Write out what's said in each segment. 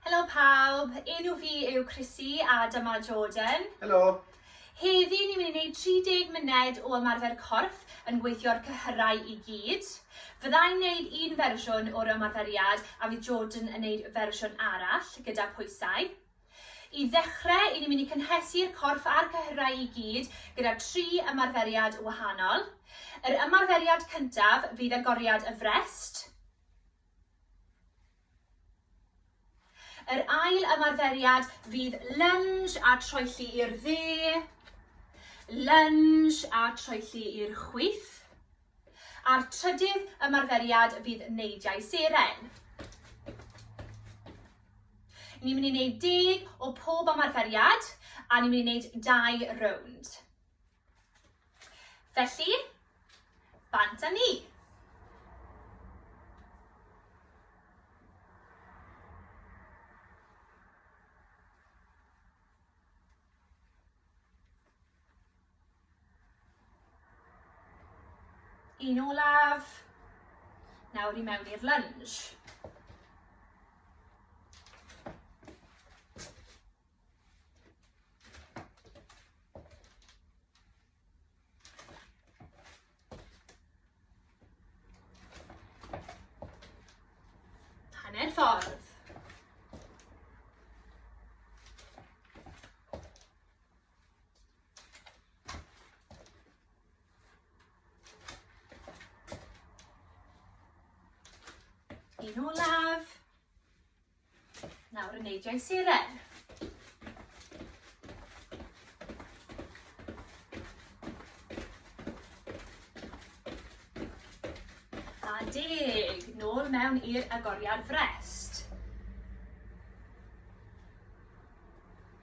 Helo pawb, enw fi yw Chrissy a dyma Jordan. Helo. Heddi ni'n mynd i wneud 30 munud o ymarfer corff yn gweithio'r cyhyrau i gyd. Fyddai'n wneud un fersiwn o'r ymarferiad a fydd Jordan yn wneud fersiwn arall gyda pwysau. I ddechrau, 'y ni'n mynd i cynhesu'r corff a'r cyhyrau i gyd gyda tri ymarferiad wahanol. Yr ymarferiad cyntaf fydd agoriad y frest. Yr ail ymarferiad fydd lunge a troelli i'r dde, lunge a troelli i'r chwith. A'r trydydd ymarferiad fydd neidiau seren. Ni'n mynd i wneud deg o pob ymarferiad a ni'n mynd i wneud dau rownd. Felly, bant â ni. Un olaf. Nawr i mewn i'r lunge. Hanner ffordd. Un olaf. Nawr yn neidiau siren. deg, nôl mewn i'r agoriad frest.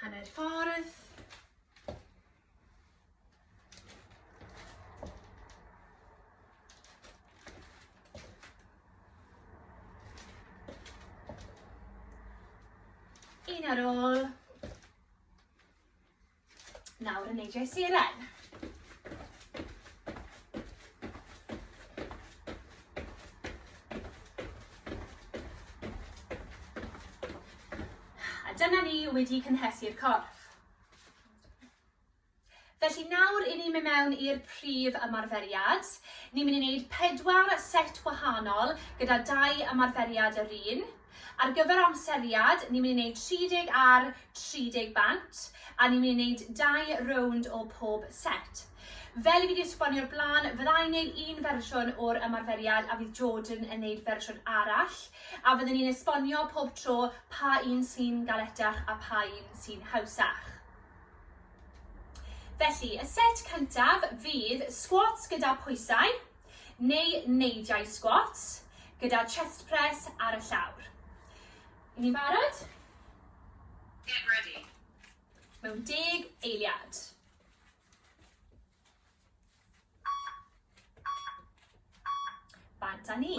Hanner ffordd. Un ar ôl. Nawr yn neidio i siren. A dyna ni wedi cynhesu'r corff. Felly nawr i ni mynd mewn i'r prif ymarferiad. Ni'n mynd i wneud pedwar set wahanol gyda dau ymarferiad yr un. Ar gyfer amseriad, ni'n mynd i wneud 30 ar 30 bant, a ni'n mynd i wneud dau rownd o pob set. Fel i fi 'di esbonio o'r blaen, fydda i'n wneud un fersiwn o'r ymarferiad a fydd Jordan yn wneud fersiwn arall, a fydden ni'n esbonio pob tro pa un sy'n galetach a pa un sy'n hawsach. Felly, y set cyntaf fydd squats gyda pwysau, neu neidiau squats gyda chest press ar y llawr. Yn ni'n barod? Get ready. Mewn deg eiliad. Bant a ni.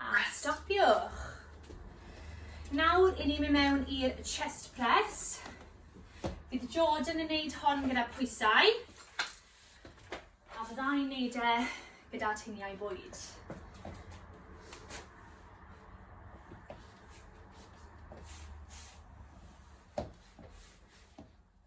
A stopiwch. Nawr, i ni mynd mewn i'r chest press. Bydd Jordan yn gwneud hon gyda pwysau. A bydda i'n gwneud e gyda tiniau bwyd.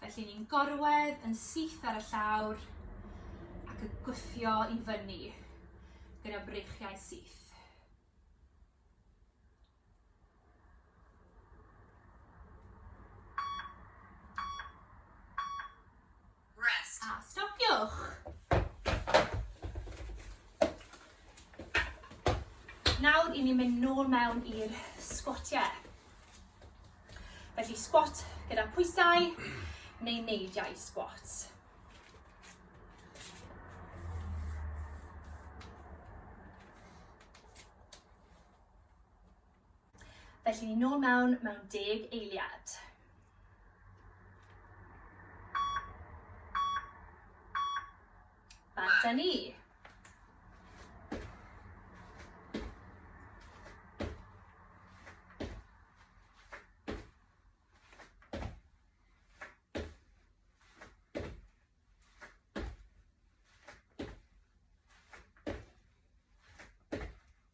Felly ni'n gorwedd yn syth ar y llawr ac yn gwthio i fyny gyda breichiau syth. Rest. A stopiwch. Nawr i ni mynd nôl mewn i'r sgwatiau. Felly sgwat gyda pwysau neu neidiau sgwat. Felly, nôl mewn mewn deg eiliad. Ba da ni.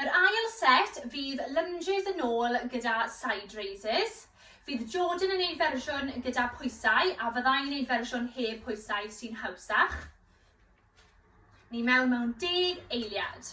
Yr ail set fydd lunges yn ôl gyda side raises. Fydd Jordan yn ei fersiwn gyda pwysau a fyddai'n ei fersiwn heb pwysau sy'n hawsach. Ni mewn mewn deg eiliad.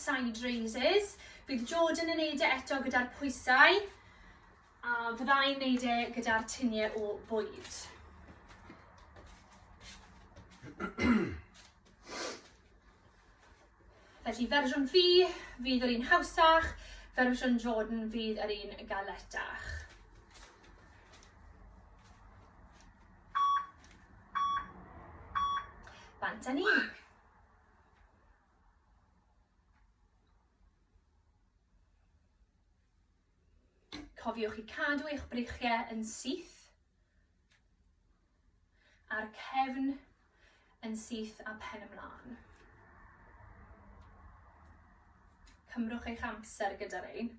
side raises. Bydd Jordan yn neud e eto gyda'r pwysau. A fydda i'n neud e gyda'r tinie o bwyd. Felly fersiwn fi fydd yr un hawsach, fersiwn Jordan fydd yr un galetach. Bant a ni. Cofiwch i cadw eich breichiau yn syth a'r cefn yn syth a pen ymlaen. Cymrwch eich amser gyda'r ein.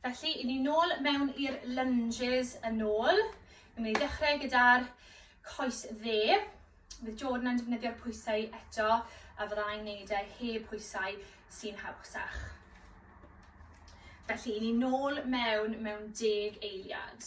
Felly, i ni nôl mewn i'r lunges yn ôl. Yn mynd i ddechrau gyda'r coes dde. Bydd Jordan yn defnyddio'r pwysau eto a fydda i'n neud e heb pwysau sy'n hawsach. Felly, i ni nôl mewn mewn deg eiliad.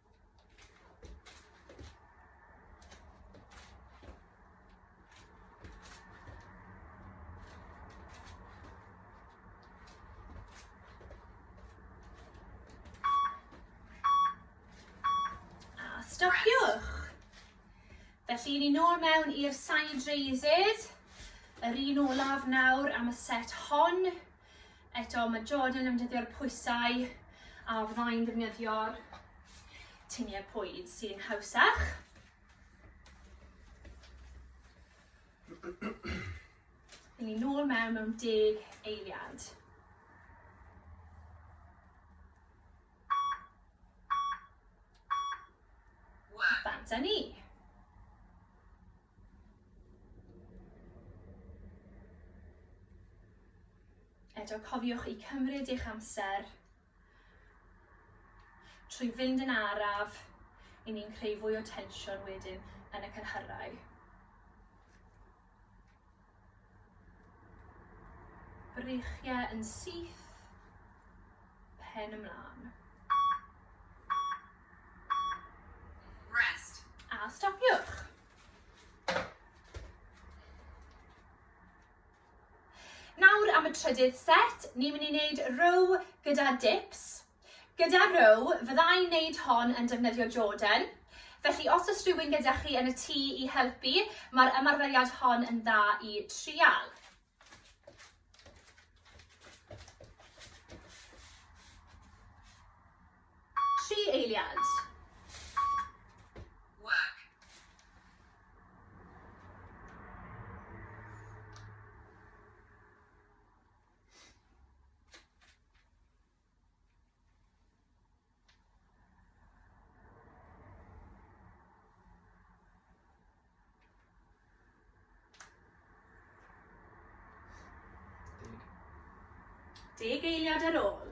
stopiwch. Felly, ni nôl mewn i'r side raises. Yr un olaf nawr am y set hon. Eto, mae Jordan yn dyddio'r pwysau a fyddai'n defnyddio'r tuniau pwyd sy'n hawsach. Yn ni nôl mewn mewn deg eiliad. Bant a ni. Eto, cofiwch i cymryd eich amser trwy fynd yn araf i ni'n creu fwy o tensiwn wedyn yn y cynhyrau. Breichiau yn syth, pen ymlaen. Rest. A stopiwch. Nawr am y trydydd set, ni'n mynd i wneud row gyda dips. Gyda rhyw, fydda i'n neud hon yn defnyddio Jordan, felly os oes rhywun gyda chi yn y tŷ i helpu, mae'r ymarferiad hon yn dda i trial. Tri eiliad. Deg eiliad ar ôl.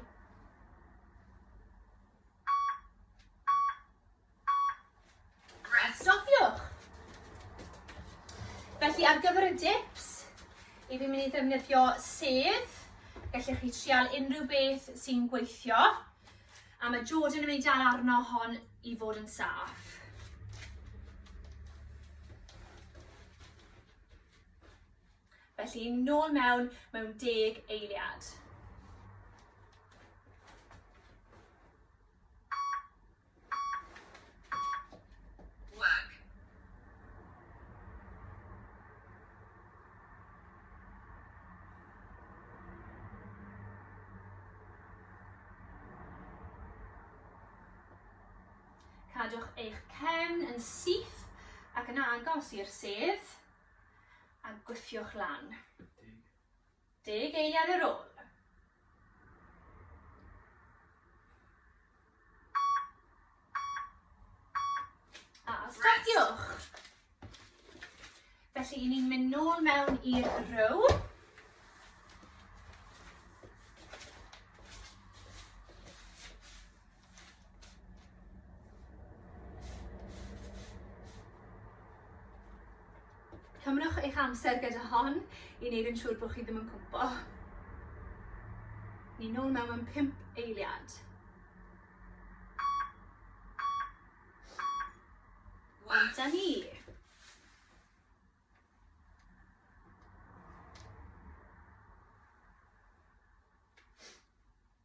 A stopiwch! Felly ar gyfer y dips, i fi'n mynd i ddefnyddio sedd, gallech chi trial unrhyw beth sy'n gweithio, a mae Jordan yn mynd i dal arno hon i fod yn saff. Felly, nôl mewn mewn deg eiliad. Cadwch eich cefn yn syth ac yn agos i'r sedd a gwthiwch lan. Deg eiliad ar ôl. A stopiwch. Felly, ni'n mynd nôl mewn i'r row. Cymrwch eich amser gyda hon i wneud yn siŵr bod chi ddim yn cwmpo. Ni nôl mewn am pimp eiliad. Wan da ni.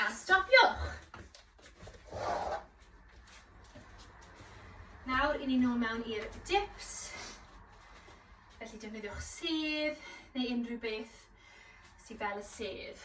A stopiwch! Nawr, i ni nôl mewn i'r dips. Felly defnyddiwch sedd neu unrhyw beth sydd fel y sedd.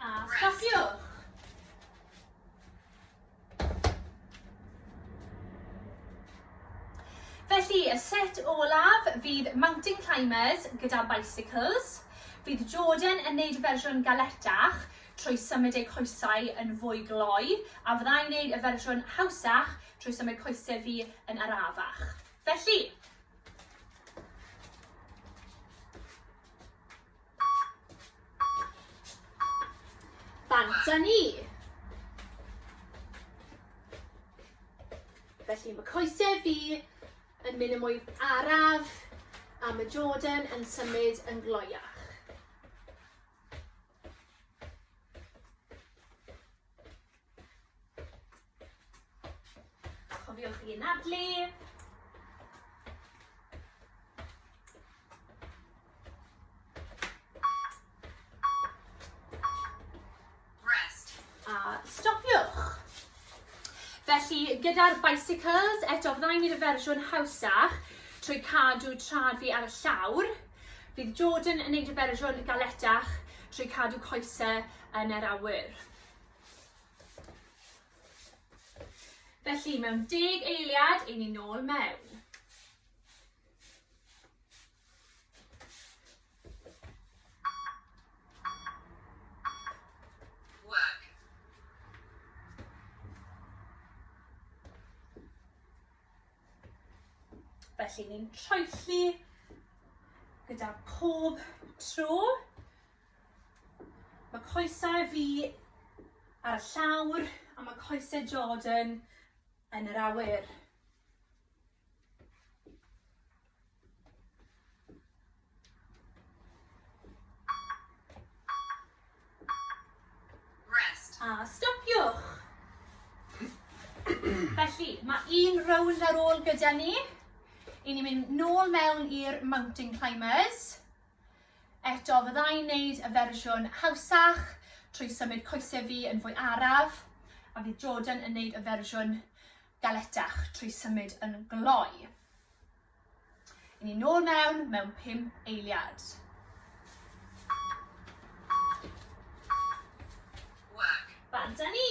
A stopiwch! Felly, y set olaf fydd mountain climbers gyda bicycles. Bydd Jordan yn neud fersiwn galetach trwy symud eu coesau yn fwy gloi, a fydda i'n neud y fersiwn hawsach trwy symud coesau fi yn arafach. Felly, Bant a ni! Felly mae coesau fi yn mynd yn mwy araf a mae Jordan yn symud yn gloiach. Cofiwch i anadlu. Felly, gyda'r bicycles, eto fyddai'n gwneud y fersiwn hawsach trwy cadw trad fi ar y llawr. Bydd Jordan yn gwneud y fersiwn galetach trwy cadw coesau yn yr awyr. Felly, mewn deg eiliad, i ni nôl mewn. Felly ni'n troelli gyda pob tro. Mae coesau fi ar y llawr a mae coesau Jordan yn yr awyr. Rest. A stopiwch. Felly, mae un rownd ar ôl gyda ni. I ni mynd nôl mewn i'r mountain climbers. Eto, fydda i'n neud y fersiwn hawsach trwy symud coesau fi yn fwy araf, a fydd Jordan yn neud y fersiwn galetach trwy symud yn gloi. Yn ni nôl mewn mewn pum eiliad. Wag. Bant â ni!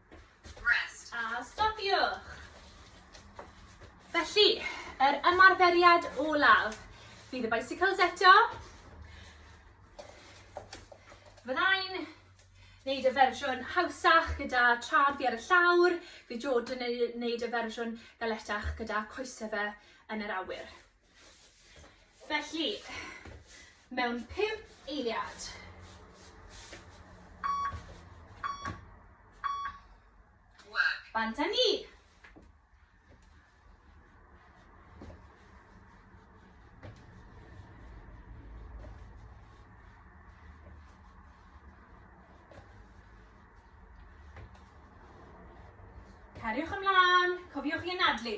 Rest. A stopiwch. Felly, yr ymarferiad olaf fydd y bicycles eto. Fyddai'n wneud y fersiwn hawsach gyda trad fi ar y llawr, fi Jordan yn wneud y fersiwn galetach gyda coesau fe yn yr awyr. Felly, mewn pum eiliad. Bant â ni! Cariwch ymlaen, cofiwch i anadlu.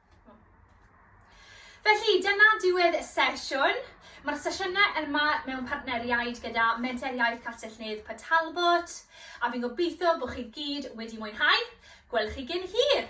Felly, dyna diwedd y sesiwn. Mae'r sesiynau yma mewn partneriaid gyda Menter Iaith Castell Nedd Port Talbot, a fi'n gobeithio bod chi gyd wedi mwynhau. Gwelwch chi gyn hir!